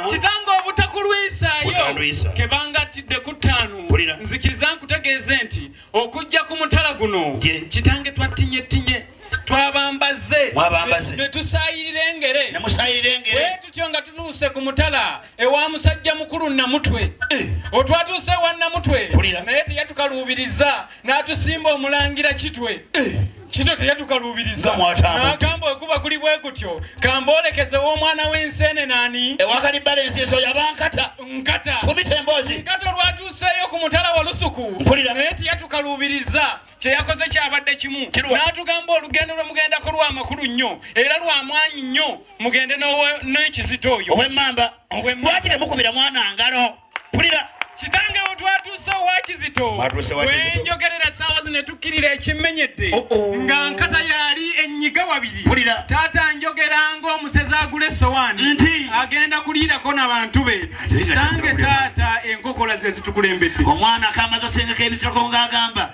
kitange obutakulwisaayo kebangattidde ku ttaano nzikiriza nkutegeeze nti okujja ku mutala guno kitange twattinyetinye twabambaze netusayirira engere bwetutyo nga tutuuse ku mutala ewa musajja mukulu namutwe eh. otwatuuse ewa namutwe naye teyatukaluubiriza n'atusimba omulangira kitwe eh. kito teyatukaluubiriza agamba okuba guli bwe gutyo kamboolekeze w'omwana w'enseene nani ewakalibbala ensi ezo yabankata nkata fumita emboozi nkata olwatuuseeyo ku mutala wa lusuku mpulira naye teyatukaluubiriza kyeyakoze kyabadde kimu n'atugamba olugendo lwe mugendako lwa makulu nnyo era lwa mwanyi nnyo mugende n'ekizito oyo owemmamba lwaki temukubira mwana ngalo pulira kitange wetwatuuse owakizito wenjogerera saawa zino etukkirira ekimenyedde oh, oh. nga nkata yali enyiga wabiri taata njogera ngaomusezi agula essowaani nti agenda kuliirako na bantu be kitange taata enkokola zezitukulembedde omwana kamaze osengeka emisoko ngaagamba